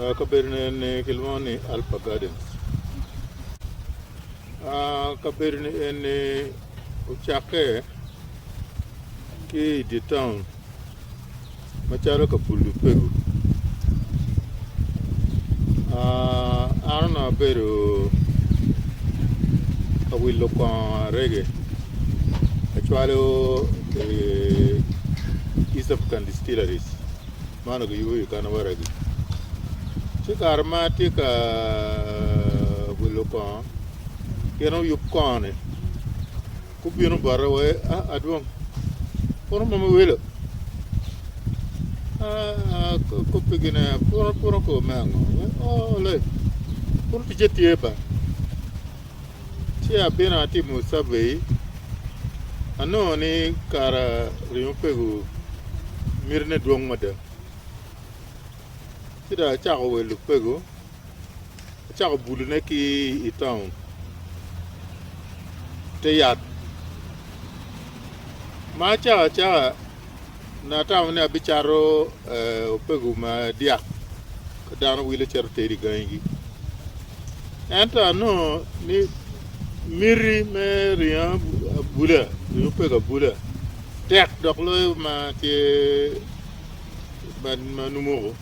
Ah, kabedo-ni eni kilwongo ni Alpha Gardens. Ah, kabedo-ni eni ocakke ki i dye taun macalo Kabulu Pegu. Ah, an onongo abedo ka wilo kongo arege acwalo i East African distilleries ma onongo kiyubo i wi kano waragi. Ci kare ma atye ka wilo kongo, gin oyub kongo-ni gubino bota wa, A, Adwong, puro mom iwilo? A, Akobbigi ne, puro, puro kor me ango? Wee, O, Olai, puro ticce tye ba. Ci abino atimo cavei, anongo ni kara ringo pego mitine dwong mada. Ci dong acako welo pego, acako bulune ki i taun, i te yat. Ma acaka acaka An atamo ni abicato opego ma dyak ka dano wile cito tedo i gangigi. Ento anongo ni miti me ringo abula, ringo opego abula tek dok loyo ma tye ma numoko.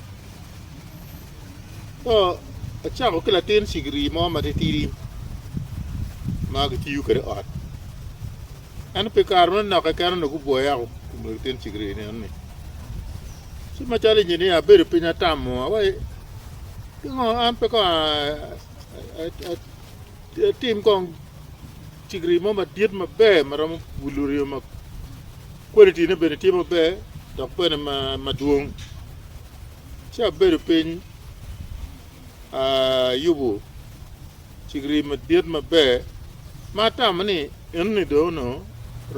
So acako ki latin cigiri mo matitidi ma kitiyo kwede i ot. Ento pi kare meno naka keken onongo gubwoya woko kun onongo gityen cigiri i nino-ni. Ci macalo inyinia abedo piny atamo wa wai pingo an pe kong atim kong cigiri mo madit maber ma romo bulu ryo ma kwalitine bene tye maber dok bene madwong. Ci abedo piny ayubo Cigiri madit maber ma atamo ni enoni dong onongo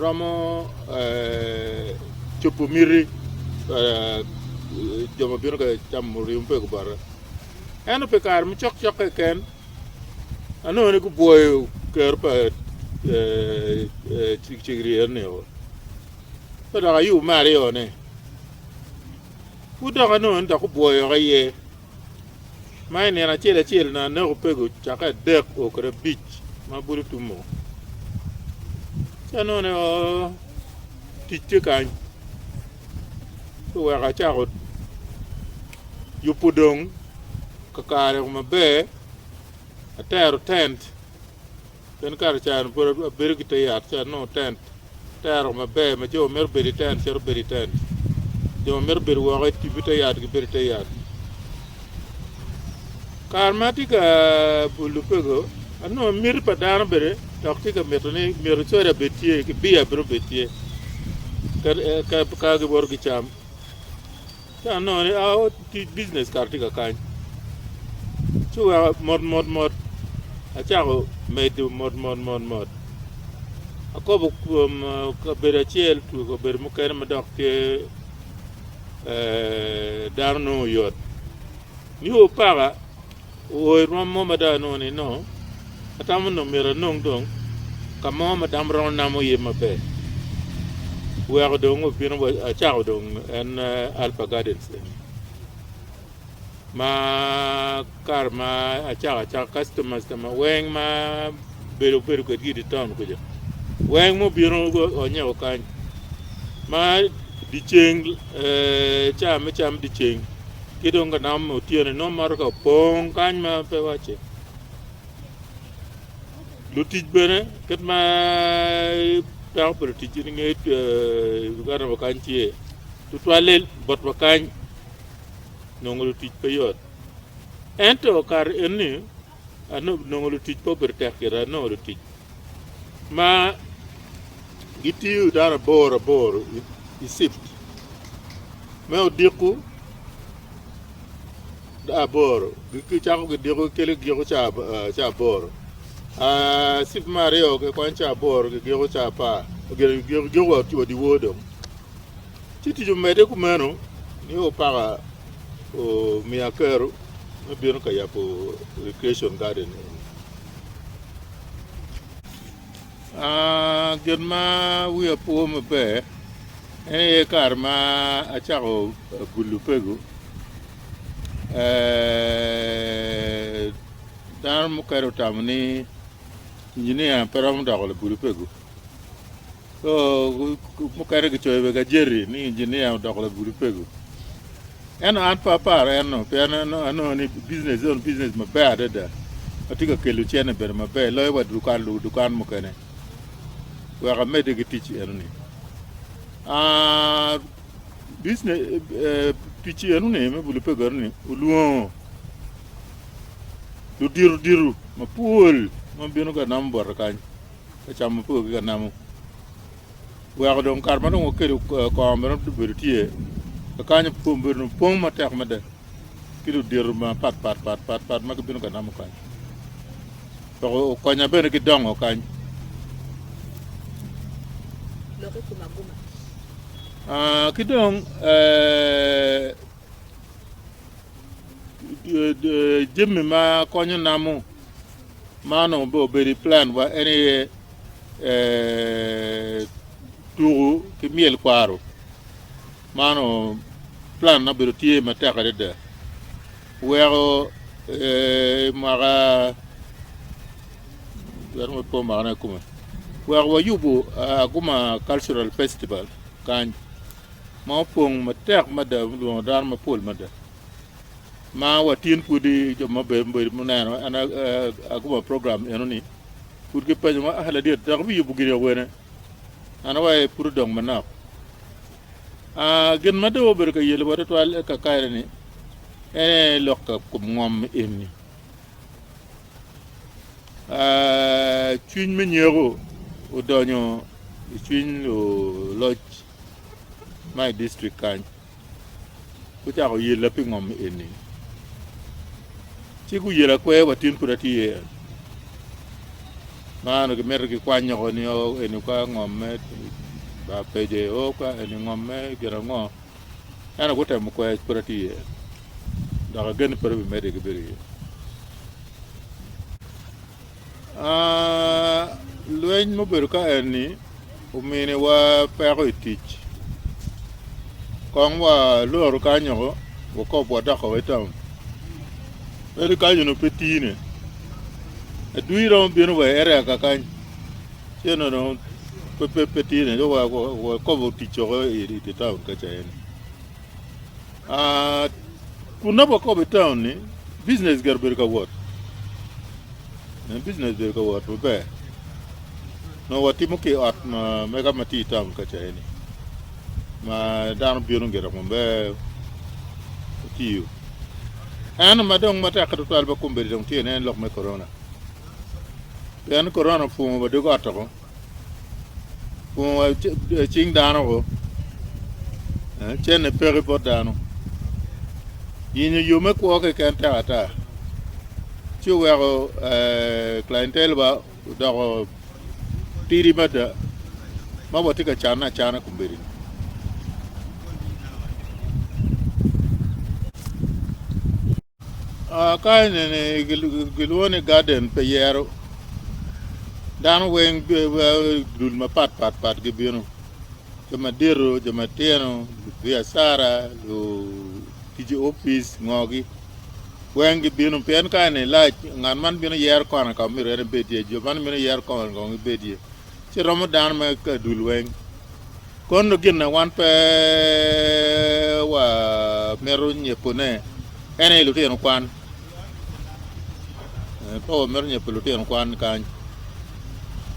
romo cobo miti pa jo ma bino ka camo rii mapego bota. Ento pi kare ma cokcok keken, anongo ni gubwoyo kero pa cigiri enoni o. Ka dok ayubo me aryo-ni, pud dok anongo ni dok gubwoyo woko iye. ma i nino acel acel onongo aneko pego cake adek o kede abic ma pud otumo ca none o tic tye kany ci oweko acako yubo dong kakare maber atero tent Pien kato cani pud abedo ki te yat ci anongo tent te aro maber ma jo ma mito bedo i tent cito bedo i tent, jo ma mito bedo woko i tipi te yat gibedo i te yat. Kare ma atye ka bul lupego, anongo miti pa dano bene dok tye ka mito ni myero coda bed tye ki biya bene obed tye ka giwoto gicam. Ci anongo ni, Aao, tic bijinec kara tye ka kany. Ci weka mot mot mot acako medo mot mot mot mot. Akobo kwom kabedo acel twe kabedo mukene ma dok tye dano nongo oyot. Niu paka. Oo, irwom mo mada nongo ni noo. Atamo nongo myero anong dong ka mo ma dam romo namo iye maber. Weko dong obino wa acako dong en Alpha Gardens eni. Ma kare ma acako acaka customers ta ma weng ma bedo bedo kwedgi idi town kuca. Weng mo bino onyeko kany. Ma diceng, eh, ca me cam diceng. Ki dong ka dam otyeno nongo mato ka opong kany ma pe wacce. Lutic bene kit ma dako pa lutic i nge Uganda wa kany tye tutwalle bot wa kany nongo lutic pe yot ento kare eni nongo lutic pe obedo tek kiti, anongo lutic ma gitiyo dano aboro aboro i cift me odiko aboro gicako gidiko gikelo giko ca aboro cift me aryo kikwanyo ca aboro gigiko ca apar gigiko wa odye wor dong. Ci tic omedde kumeno ni opaka omiya kero me bino ka yabo recreation garden eni. Uh, gin ma wiya po maber en aye kare ma acako bulu pego eh, dano mukene otamo ni injinia pe romo doko labulu pego. Co mukene kicoyo bene gajeti ni injinia odoko lagudo pego. Ento an pe aparo eno pien anongo ni biznes en biznes maber adada ma tye ka kelo cene bene maber loyo wa dukan lubo dukan mukene wek amedde ki tic enoni. Ah, biznes eh, tic enoni me bulo pego enoni olwongo ludito dito mapol ma bino ka namo bote kany. ka cam mapol ki ka namo weko dong kare ma dong wakelo kong bene obedo tye kakanyo obedo pong matek mada ki ludito mapat pat pat pat pat ma gibino ka namo kany dok okonya bene ki dongo kany lok i kom aguma aa ki dong jami ma konyo namo Man onongo bene obedo i planwa en aye tuku ki myel kwaro man onongo plan ma obedo tye matek adada weko mwaka weko wayubu Aguma cultural festival kany ma opong matek mada ma olwono dano mapol mada ma watyen kwedi jo ma be be muneno an a- a- akuba program eno ni pud kipenyo ngo ah ladiet dok biyubo gini awene an awaye pud odong manok ah gin ma dong obedo ka yelo wa tutwal i kakare ni ene lok ka kom ngom eni ah cwiny me nyeko odonyo i cwiny oloc ma i district kany Gucako yella pi ngom eni, ci guyela kwer wa tin pud atye iye. Ma onongo gimito gikwanyoko ni o eni ka ngom me ba peje, o ka eni ngom me gin ango. Ento gutemo kwer pud atye iye. Dok agen ni pud abimedde ki bedo iye. Lweny ma obedo ka eni ominiwa peko i tic. Kong walor kanyoko wakob wadoko wa i taun. Ento kany onongo pe tine. Adwiri romo bino wa i area kakany ci eno dong pe tine ci wakobo tic woko i taun kaca eni. Kun nongo wakobo i taun ni, Bijinec gire obedo ka wot. Bijinec obedo ka wot maber. Nongo watimo ki i ot mega ma tye i taun ka ca eni ma dano bino gire maber otiyo. Ento ma dong matek tutwal ma kombedo dong tye ni en lok me korona. Pien korona opwongo wa dog ot woko. Kun wa cing dano o. Cenne peki bot dano. Yenyo yo me kwo keken tek ata. Ci oweko clientele ba odoko tidi mada ma watye ka canne acana kombeddi. Ka enini gilwongo ni garden pi yero dano weng dul mapat pat pat gibino jo madito jo matino lubiacara lutic i opic ngo gi weng gibino pien ka eni lac ngat man bino yero kona ka myero en ebed iye jo man bino yero kona kong ebed iye ci romo dano me ka dul weng. Kono gin na wan pe wamito nyepone en aye lutino kwan. Eh, pe wamito nyepo lutino kwan kany.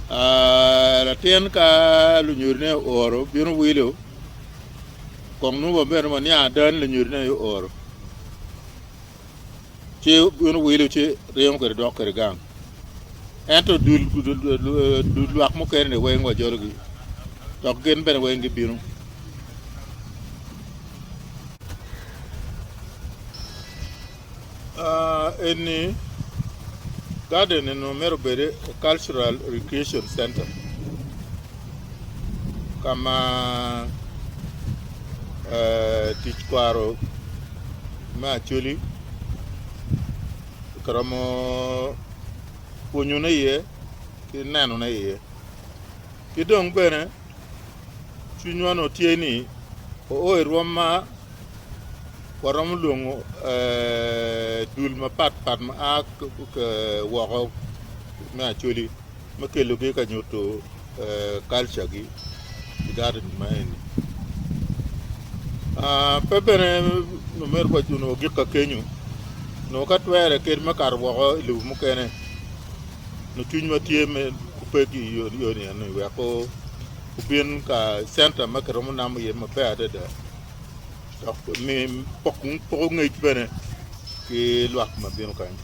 Ah, latin ka lunyodine ooro bino wilo, kong nongo wamito ni waniang ada ni lunyodine aye ooro. ci bino wilo ci ryemo kwede dok kwede gang. Ento dul dul lwak mukene-ni weng wajologi, dok gin bene weng gibino. Ah, eni garden eno mero bede cultural recreation center ka ma eh, tic kwaro Me Acholi kiromo pwonyone iye ki nenone iye. Ki dong bene cwinywa nongo tye ni oo i rwom ma waromo lwongo dul mapatpat ma a woko me Acholi. me kelogi ka nyuto culture gi i garden ma eni. Ah, pe bene omyero wa onongo gik ka kenyo onongo ka twere kit me kato woko i lobo mukene nyo cwiny ma tye me opeg i yo yo ni eni wek ko obin ka center ma kiromo namo iye maber adada dok mi pok poko ngec bene ki lwak ma bino kany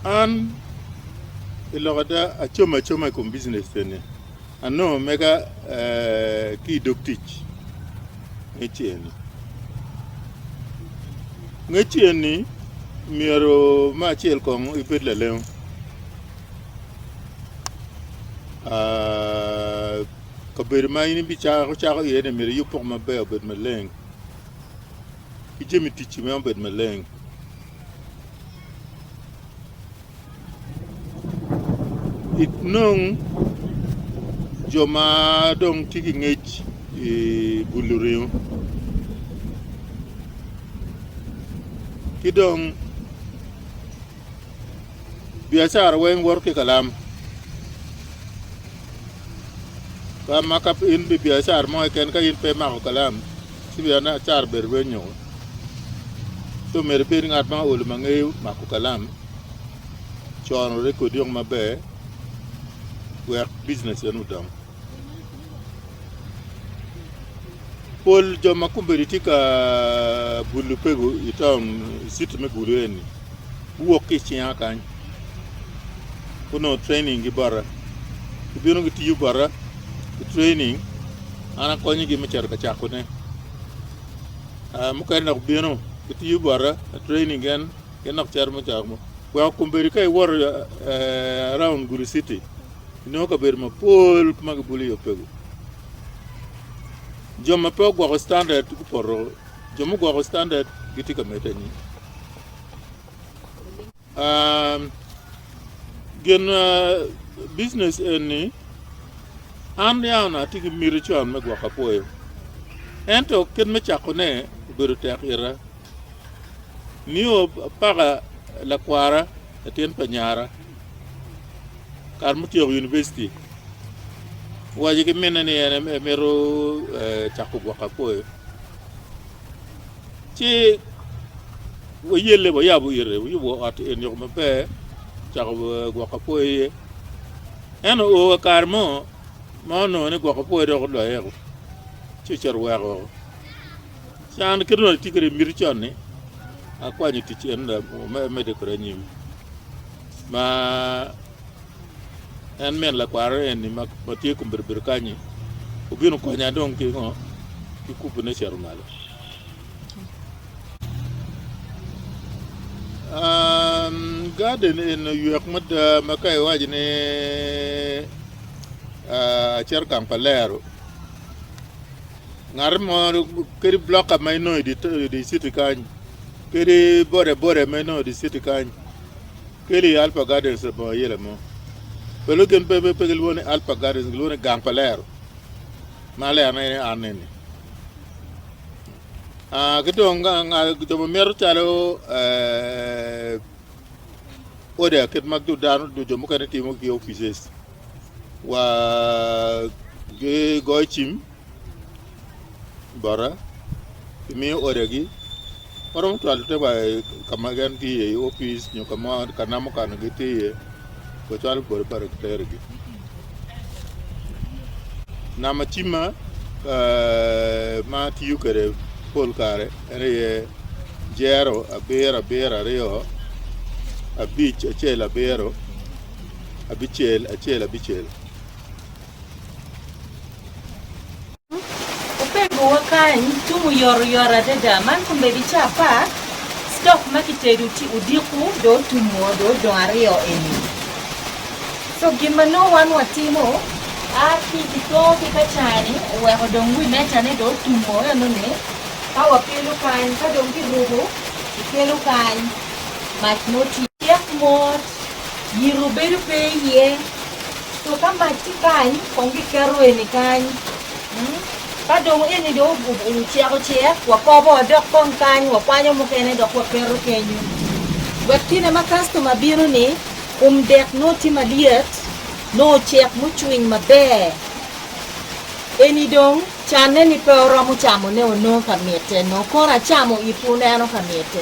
An pi lok ada acomo acoma i kom bijinec eni, anongo mega ki i dog tic ngecci eni. Ngecci eni myero me acel kong ibed lalengo Kabedo ma in ibicako iye-ni myero iyub poko maber, obed maleng, ki jami ticci bene obed maleng. Inong jo ma dong tye ki ngec i bulo ringo ki dong Biacara weng woto ki kalam. Ka ma ka in bi biacara mo keken ka in pe imako kalam, ci biacara bedo lweny nyoko. Ci omyero ibed ngat ma olo ma ngeyo mako kalam, cono rekodi weng maber wek bijineceni odong. Pol jo ma kombeddi tye ka bulo pego i taun i citi me Gulu eni guwok ki i cinga kany, gunongo training gi bota. Gibino gitiyo bota i training, an akonyogi me cito ka cakone. Ah, mukene dok bino gitiyo bota i training gen, gen dok cito me cako mo. Weko kombeddi ka iwoto eh, around Gulu citi, Inongo kabedo mapol ma gibulo i opego, jo ma pe ogwoko standard gupoto, jo mugwoko standard gitye ka medde anyim. Um, gin uh, business eni an yawna atye ki miti con me gwoko apwoyo, ento kit me cakone obedo tek ira. Nio paka lakwara, latin pa nyara, Kare mutyeko univicity, owaco ki minne ni en emito cako gwoko apoyo. Ci wayelle wayabo ite, wayubo ot en yok maber, cako gwoko apoyo iye. En oo wa kare mo ma onongo ni gwoko apoyo dok oloyo eko, ci ocito weko woko. Can kit ma atye kwede i miti con ni akwanyo tic en me mede kwede anyim ma en min lakwaro eni ma tye kun bedo bedo kanyi obino konya dong ki ngo ki kubune cito malo Um, garden en oywek mada ma ka iwaco ni uh, acito gang pa lero Ngat mo kadi bloka ma inongo idi citi kany, kadi bodaboda ma inongo idi citi kany, keli i Alpha Gardens labongo ayela mo. Pe lwongo gin pe pe gilwongo ni Alpha Gardens, gilwongo ni gang pa lero. Ma lerone en an eni. Ah, ki dong jo ma mito calo eh, order kit ma dano jo mukene timo ki offices. wa gi goyo cim bota ki miyo order gi waromo cwalo te wa ka ma gin tye iye i opic nyo ka mo ka namo kano gi tye iye wa cwalo bota bota ki tero gi nama cimma ma atiyo kwede pol kare en aye jero abiro abiro aryo abic acel abiro abicel acel abicel. Opegowa kany tung oyotoyot adada man kombeddi ca apar stock ma kitedo ci odiko do otum oo do odong aryo eni so gin ma nongo wan watimo a ki kito ki ka cani oweko dong wi meja ne do otum oo eno ni ka wakelo kany ka dong kiruko kikelo kany mac mo tye cek mot yito bedo pe iye. So ka mac tye kany, kong giketo eni kany. Mm. Ka dong eni dong o- o- oceko cek, wakobo wadok kong kany, wakwanyo mukene dok waketo kenyo. Wek kine ma kastoma bino-ni, kum dek nongo tye malyet, nongo ocek mucwiny maber. Eni dong canne-ni pe oromo camone o nongo ka mitte, nongo kono acamo it wuneno ka mitte.